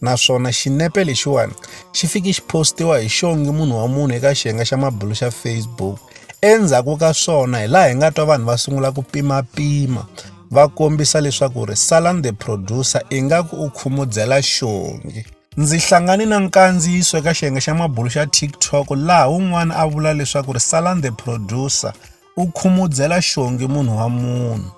naswona xinepe lexiwani xi fike xi postiwa hi xongi munhu wa munhu eka xiyenge xa mabulo xa facebook endzhaku ka swona hi laha hi nga twa vanhu va sungula ku pimapima va kombisa leswaku ri salan the producer ingaku u khumudzela xongi ndzi hlangane na nkandziyiso eka xiyenge xa mabulo xa tiktok laha wun'wana a vula leswaku ri salan the producer u khumudzela xongi munhu wa munhu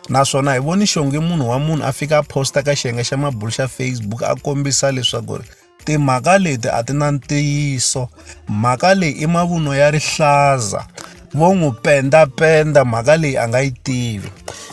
naswona hi voni xongi munhu wa munhu a fika a posta ka xiyenge xa mabulu xa facebook a kombisa leswaku ri timhaka leti a ti na ntiyiso mhaka leyi i mavunwa ya rihlaza vo n'wi pendapenda mhaka leyi a nga yi tivi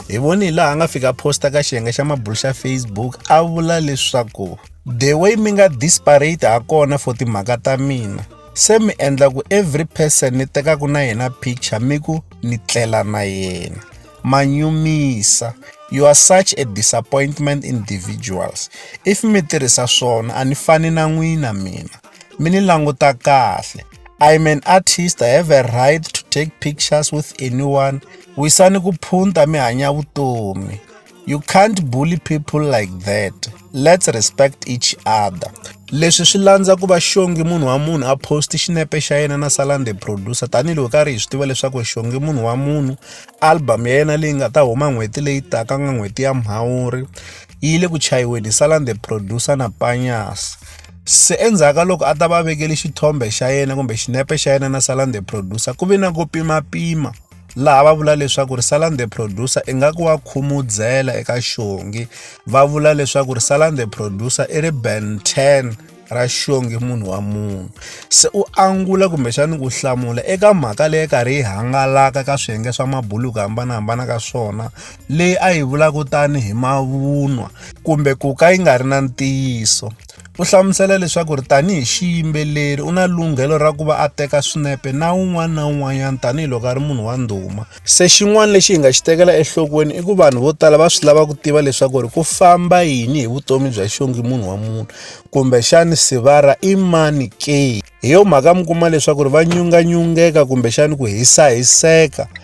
hi voni hi laha a nga fika posta ka xiyenge xa mabulu xa facebook a vula leswaku the way mi nga disparate ha kona for timhaka ta mina se mi endla ku every person ni tekaku na yena picture mi ku ni tlela na yena ma nyumisa you are such a disappointment individuals if mi tirhisa swona a ni fani na n'wina mina mi ni languta kahle i'm an artist i have a right to take pictures with anyone wisani ku phunta mi hanya vutomi You can't bully people like that. Let's respect each other. Leswi swi landza ku va xongi munhu wa munhu a post xinepe xa yena na Salande producer tanihiloko ka ri hi swi tiva leswaku xongi munhu wa munhu album ya yena leyi nga ta huma n'hweti leyi taka nga n'hweti ya Mhawuri yi le ku chayiweni hi Salande producer na Panyas. se endzhaku ka loko a ta va vekele xithombe xa yena kumbe xinepe xa yena na Salande producer ku ve na ku pimapima laha va vula leswaku ri salan the producer ingaku wa khumudzela eka xongi va vula leswaku ri salan the producer i ri ben 10 ra xongi munhu wa munhu se u angula kumbexani ku hlamula eka mhaka leyi karhi yi hangalaka ka swiyenge swa mabuluku hambanahambana ka swona leyi a yi vulaka tani hi mavunwa kumbe ku ka yi nga ri na ntiyiso U hlamusela leswaku ri tanihi xiyimbeleri u na lunghelo ra ku va a teka swinepe na un'wana na un'wanyana tanihiloko a ri munhu wa ndhuma se xin'wana lexi hi nga xi tekela enhlokweni i ku vanhu vo tala va swi lava ku tiva leswaku ri ku famba yini hi vutomi bya xongi munhu wa munhu kumbexani sivara i mani ke hi yo mhaka mi kuma leswaku ri va nyunganyungeka kumbexani ku hisahiseka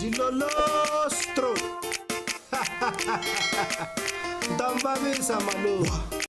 Jilolostro. Tambavisa maluwa.